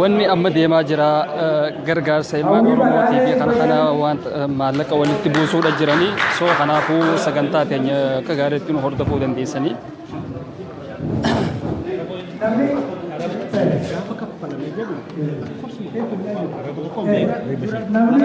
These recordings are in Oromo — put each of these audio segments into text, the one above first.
Wanni amma deemaa jira gargaarsa ilmaan Oromootii fi kana kana wanta maallaqa walitti buusuudha jiranii soo kanaafuu sagantaa keenya akka gaariitti nu hordofuu dandeessanii. Namni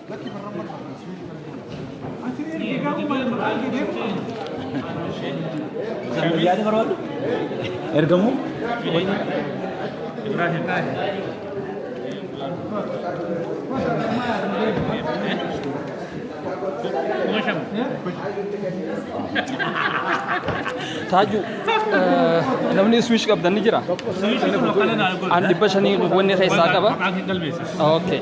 Yaada barbaadu? Ergamuu? Taaju, namni swish qabdan ni jira? An dhibba shanii wanni keessaa qaba? Okay.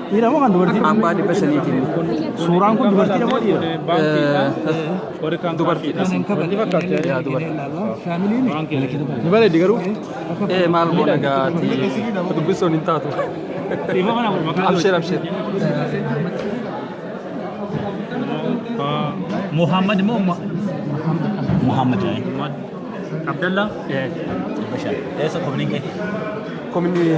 Dhiira moo kan dubartii? Abbaa dhibba shaniitiin. Suuraan kun dubartii moo dhiira? Dubartiidha. Yaa dubartii. Ni bareeddi garuu. Ee maal goona gaati. Dubbisuun hin taatu. Abshir abshir. Muhammad moo Muhammad Abdallah. Eessa kominii kee? Kominii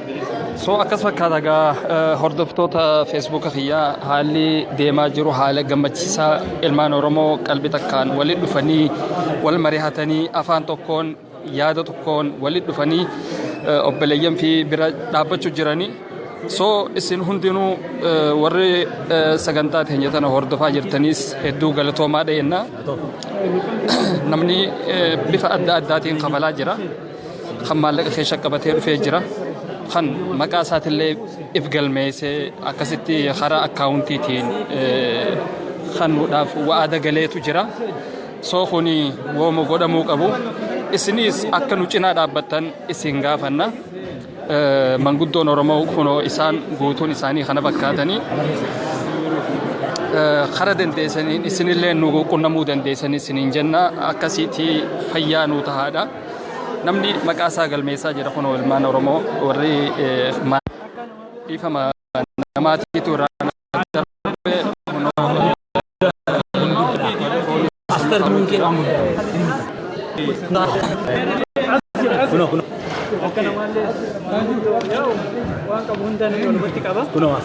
So akkas fakkaata egaa eh, hordoftoota feesbuuka kiyyaa haalli deemaa jiru haala gammachiisaa ilmaan Oromoo qalbii takkaan walitti dhufanii wal mari'atanii afaan tokkoon yaada tokkoon walitti dhufanii eh, obboleeyyan fi bira dhaabbachuu jiranii. So isin hundinuu eh, warri eh, sagantaa teenya tana hordofaa jirtaniis hedduu galatoomaa dhageenna. Namni eh, bifa adda addaatiin kabalaa jira. kan maallaqa keessa qabatee dhufee jira. Kan maqaa isaatillee if galmeessee akkasitti karaa akkaawuntiitiin kanuudhaaf wa'ada galeetu jira. Soo kuni wooma godhamuu qabu. Isinis akka nu cinaa dhaabbattan isin gaafanna. Manguddoon Oromoo kunoo isaan guutuun isaanii kana fakkaatanii kara dandeessaniin isinillee nu qunnamuu dandeessanii isiniin jenna akkasiitii fayyaa nuu tahaadha. Namni maqaa isaa galmeessaa jira kunoo ilmaan Oromoo warri dhiifama namaatiitu irraa darbe kunoo Kunoo.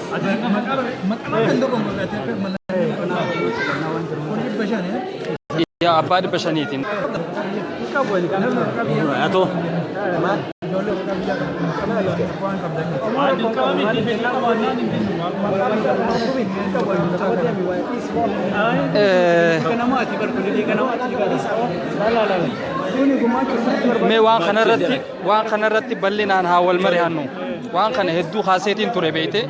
Yaa abbaa dhibba shaniitiin. Atoo. Mee waan kanarratti waan kanarratti bal'inaan haa wal mari'annu. Waan kana hedduu kaaseetiin ture beeyte.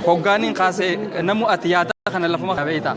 Hoggaaniin kaasee namu ati yaada kana lafuma beeyta.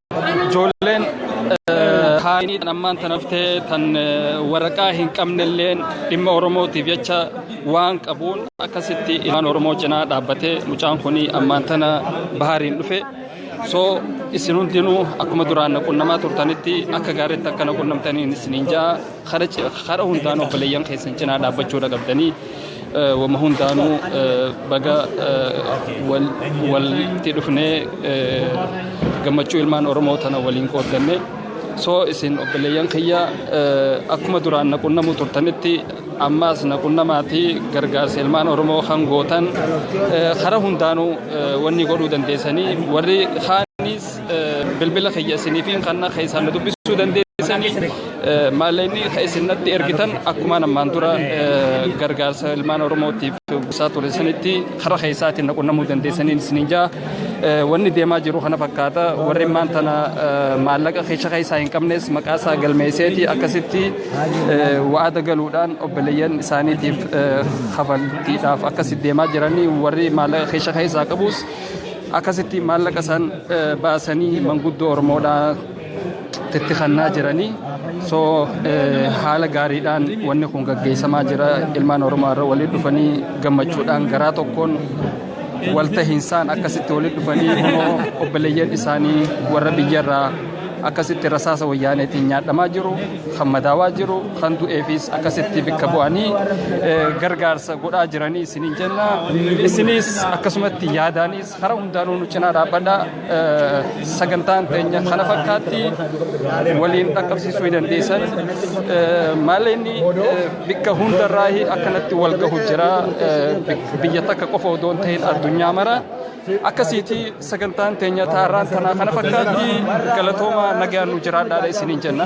Ijoolleen haayinii tan ammaan tan haftee tan waraqaa hin qabnelleen dhimma Oromootiif jecha waan qabuun akkasitti ilmaan Oromoo cinaa dhaabbatee mucaan kun ammaan tana bahaariin dhufe. So isin hundinuu akkuma duraan na qunnamaa turtanitti akka gaariitti akka na qunnamtaniin isiniin ja'a. Kara hundaan obboleeyyan keessan cinaa dhaabbachuudha qabdanii. Wama hundaanuu baga walitti dhufnee gammachuu ilmaan Oromoo tana waliin qooddanne. So isin obboleeyyan kiyya akkuma duraan na qunnamuu turtanitti ammaas na qunnamaatii gargaarsa ilmaan Oromoo kan gootan karaa hundaanuu wanni godhuu dandeessanii warri kaanis Bilbila kiyya isiniifiin kanna keessaan na dubbisuu dandeessanii maallaqni kan isin natti ergitan akkumaan ammaan dura gargaarsa ilmaan Oromootiif buusaa ture sanitti karaa keessaatiin na qunnamuu dandeessanii isiniin jaa wanni deemaa jiru kana fakkaata warri immaan tana maallaqa keessa keessaa hin qabnes maqaa isaa galmeesseeti akkasitti wa'aada galuudhaan obboleeyyan isaaniitiif kafaltiidhaaf akkasitti deemaa jiranii warri maallaqa keessa keessaa qabus akkasitti maallaqa isaan baasanii manguddoo Oromoodhaa itti kannaa jiranii so haala gaariidhaan wanni kun gaggeessamaa jira ilmaan Oromoo irra waliin dhufanii gammachuudhaan garaa tokkoon waltahiinsaan akkasitti waliin dhufanii immoo obboleeyyan isaanii warra biyyarraa akkasitti rasaasa wayyaaneetiin nyaadhamaa jiru kan madaawaa jiru kan du'eefis akkasitti bikka bu'anii gargaarsa godhaa jiranii isiniin jenna isinis akkasumatti yaadaanis karaa hundaanuu nu cinaa dhaabbadha sagantaan teenya kana fakkaatti waliin dhaqqabsiisuu hin dandeessan maalleenni bikka hundarraa akkanatti wal gahu jira biyya takka qofa odoo hin ta'in addunyaa mara akkasiiti Sagantaan teenya taarraan tanaa kana fakkaatti galatoomaa nagaan nu jiraadhaadha isiniin jenna.